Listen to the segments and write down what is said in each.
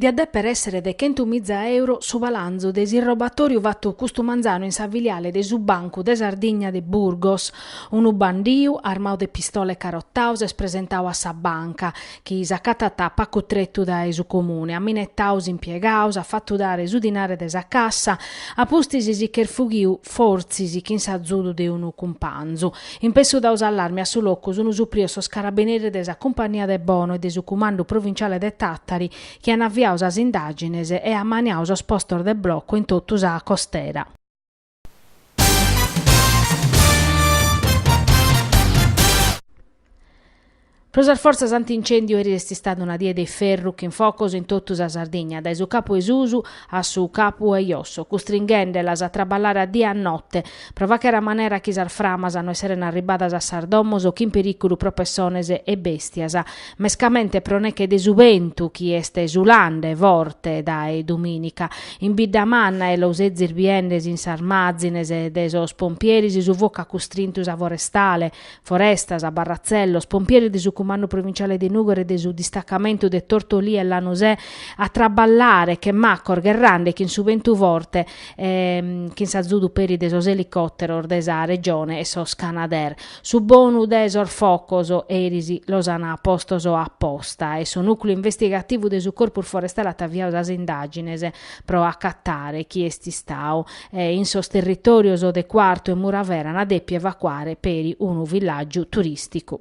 Diat dèpere èssere de chentu miza euro su balanzu de s'irrobatòriu fattu custu manzanu in sa filiale de su Bancu de Sardigna de Burgos. Unu bandiu, armadu de pistola e carotau, s'est presentau a sa banca, chi s'acatat a pacu tretu dae su Comune, at minettau s'impiegaus, s'at fatu dare su dinare de sa cassa, a pustis si ch'est fughiu, fortzis chin s'azudu de unu cumpanzu. Impessu dau s'allarmi a su locu sunu suprios sos carabineris de sa Cumpannia de Bono e de su Cumandu Provinciale de Tàtari chi an aviau sas indàgines e ammaniau sos postos de blocu in totu sa costera. Pro sas fortzas anti-incèndiu eris est istada una die de iferru chin focos in totu sa Sardigna, dae su capu 'e susu a su capu 'e josso, custringhèndelas a traballare a die e a note, pro faghere a manera chi sas framas no esseren arribbadas a sas domos chin perìculu pro pessones e bèstias, mescamente pro neche de su bentu chi est sulende forte dae dumìnica. In Biddamanna e los ezis biende in sas mazines de sos pompieris su focu at custrintu sa forestale, Forestas, Barratzellos, pompieris de su Cumandu Provinciale de Nùgoro e de su Distacamentu de Tortolì e Lanusè, a traballare che macos gherrande chin su bentu forte e chin s'azudu peri de sos elicòteros de sa Regione e sos Canadair. Su bonu de sos focos eris los an postos a posta e su nùcleu investigativu de su Corpus Forestale at aviadu sas indàgines pro acatare chie est istau e in sos territòrios de Quartu e Muravera an dèpiu evacuare peri unu villàgiu turìsticu.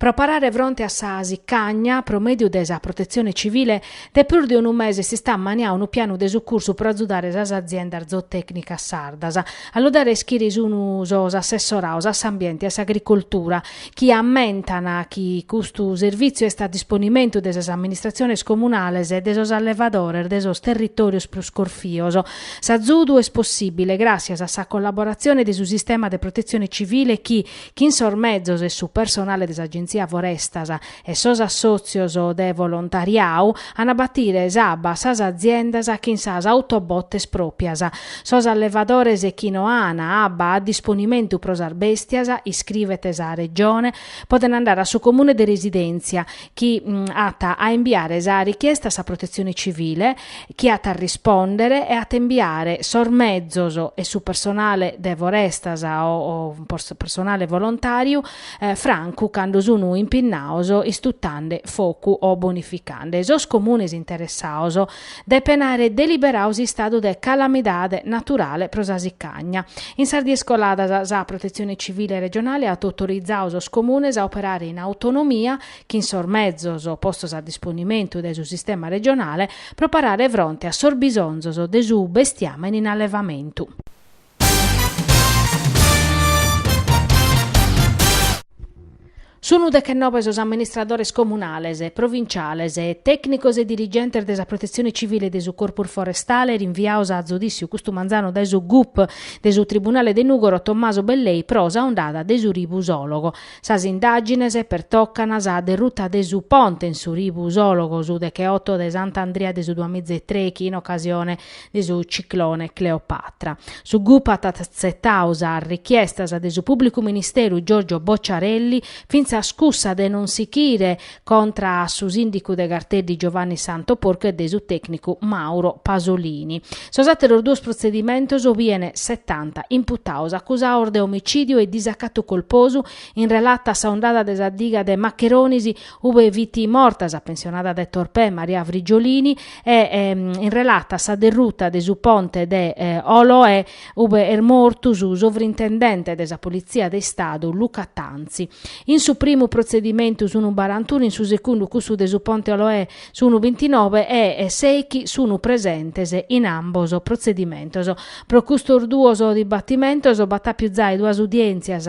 Pro parare fronte a sa sicagna, pro mèdiu de sa Protetzione Tzivile, de prus de unu mese s'est ammaniau unu pianu de sucursu pro azudare sas aziendas zootècnicas sardas. A lu dare a ischire sun sos assessoraos a s'ambiente e a s'agricoltura, chi ammentan chi custu servìtziu est a disponimentu de sas amministratziones comunales e de sos allevadores de sos territòrios prus corfios. S'azudu est possìbile gràssias a sa collaboratzione de su sistema de protetzione civile chi, chin sos mezos e su personale de s'Agenzia Forestas, e sos assòtzios de volontariau an a batire s'abba a sas aziendas chin sas autobotes pròpias. Sos allevadores chi no an abba a disponimentu pro sas bèstias, iscrivet sa Regione, podent andare a su Comune de residèntzia, chi at a imbiare sa richiesta a sa Protetzione Civile, chi at a rispòndere e at a imbiare sos mezos e su personale de Forestas o personale volontàriu, francu cando sunu impinnados istutande focu o bonificande sos comunes interessados, depen àere deliberadu s'istadu de calamidade naturale pro sa sicagna. In sas dies coladas sa Protetzione Civile regionale at autorizadu sos comunes a operare in autonomia, chin sos mezos postos a disponimentu dae su sistema regionale, pro parare fronte a sos bisonzos de su bestiamene in allevamentu. Sunu dechenobe sos amministradores comunales, provinciales, tècnicos e dirigentes de sa Protetzione Civile e de su Corpus Forestale rinviados a zudìssiu custu manzanu dae su gup de su Tribunale de Nùgoro Tommaso Bellei pro sa ondada de su ribu Sòlogo. Sas indàgines pertocant sa derruta de su ponte in su ribu Sòlogo su decheoto de Sant'Andria de su duamiza e trèichi in ocasione de su ciclone Cleopatra. Su gup at atzetau sas richiestas de su pùblicu ministeru Giorgio Bocciarelli, fintzas cussa de non sichire contra a su sìndicu de Garteddi Giovanni Santo Porcu e de su tècnicu Mauro Pasolini. Sos àteros duos protzedimentos bien setanta imputados acusados de omicìdiu e disacatu colposu in relata a sa ondada de sa diga de Macheronis ube fit morta sa pensionada de Torpè Maria Frigiolini e ehm, in relata a sa derruta de su ponte de eh, Oloè ube est mortu su sovrintendente de sa Politzia de Istadu Luca Tanzi. In su primu protzedimentu sunu barantunu, in su secundu cussu de su ponte Oloè sunu bintinove e eh, seichi sunu presentes in ambos protzedimentos. Pro custos duos dibatimentos b'at àpiu zai duas udièntzias